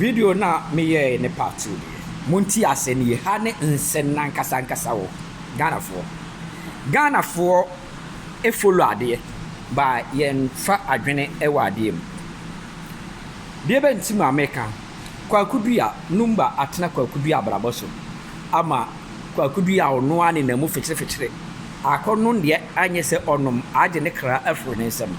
Video no a meyɛe ne part two no yɛ. Monte ase no ye. Ha ne nsɛm no ankasa ankasa wɔ hɔ. Ghanafoɔ, Ghanafoɔ follow adeɛ but yɛmfa adwene wɔ adeɛ mu. Deɛ bɛ nti ma meka, Kwaku Dua, Numba atena Kwaku Dua abrabɔ so ama Kwaku Dua a ɔno ara nenam mu fekyere fekyere akɔnom deɛ anyɛ sɛ ɔnom agye ne kra afiri ne nsam.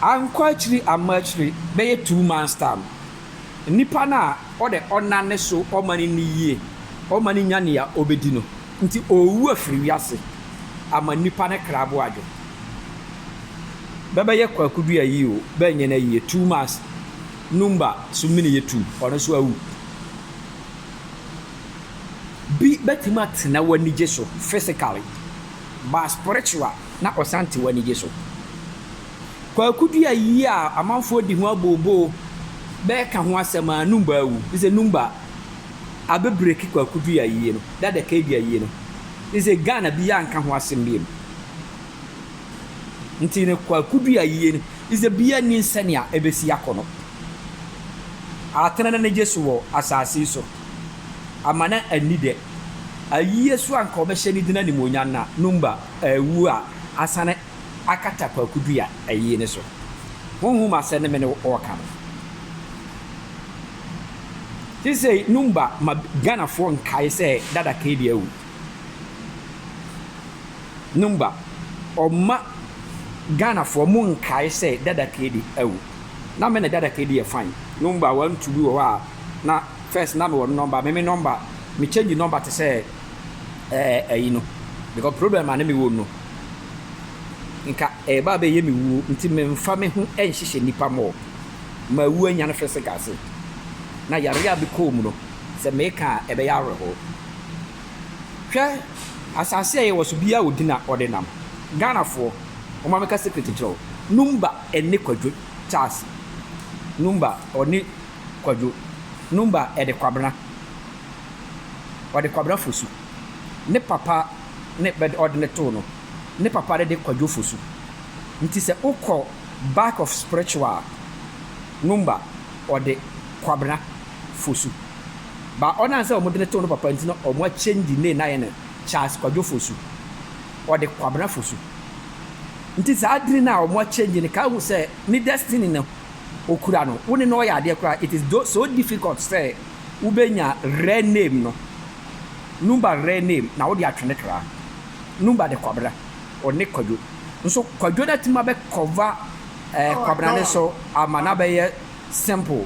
Ankɔ akyiri amma akyire bɛyɛ two months time no, nipa no a ɔdɛ ɔnna ne so ɔma no nni yie, ɔma no nya nea ɔbɛdi no nti ɔrewu afiri wiase ama nipa no kra bo adwo. Bɛbɛyɛ Kwaku Duah yie o, bɛnyɛ no ayie, two months Numba so mini yɛ two, ɔno nso awu. Bi bɛtumi atena w'anigye so physically. Ba spiritual na ɔsan te w'anigye so. Kwaku dua yi a amanfoɔ di ho abooboo bɛɛka ho asɛm aa numba awu nsɛ numba abɛ breaki kwaku dua yie no dada kadua yie no nsɛ Ghana biaa nka ho asem biom nti no kwaku dua yie no nsɛ biaa nnim sɛnea ɛbɛsi akɔ no atena nanigye so wɔ asaase yi so. ama na anni dɛ. Ayiyɛ so a nka ɔbɛhyɛ ne dzin animuonyam na no mba aewu a asan akata Kwaku Duah ayiyɛ no so. Honhom asɛm no me no wɔreka no. Sesei no mba ma Ghanafoɔ nkae sɛ Dada Kayde awu. No mba, ɔma Ghanafoɔ monkae sɛ Dada Kayde awu. Na me ne dada ke di yɛ fine number one two bi wɔ hɔ a na first na me wɔ no number me me number me change number te sɛ ɛɛ ɛyi no because problem a na me wɔ no nka ɛɛba abɛ yɛ me wuo nti me nfa me ho ɛnhyehyɛ nipa more ma awu anya no fɛsɛ gase na yareɛ a me kɔɔ mu no sɛ me ka a ɛbɛyɛ awerɛhoo hwɛ asase a yɛ wɔ so biaa ɔdi na ɔde nam Ghana foɔ wɔn ameka secret nkyerɛ wo number ɛne Kwadwo Charles Numba ɔne Kwadwo Numba ɛde Kwabena ɔde Kwabena Fosu ne papa ne bɛ ɔde no too no ne papa no de Kwadwo Fosu nti sɛ wokɔ back of spiritual a Numba ɔde Kwabena Fosu ba ɔnam sɛ wɔn de no too no papa nti na wɔn a change ne na yɛ no Charles Kwadwo Fosu. Ɔde Kwabena Fosu nti saa dini no a ɔmo a change no ka hu sɛ ne destiny no ɔkura no wo ne no ɔyɛ adeɛ koraa it is do so difficult sɛ wo bɛ nya rare name no Numba rare name na wo de atwe ne kra Numba de Kwabena ɔne Kwadwo nso Kwadwo no atumi abɛ cover eh Kwabena no so ama no abɛyɛ simple.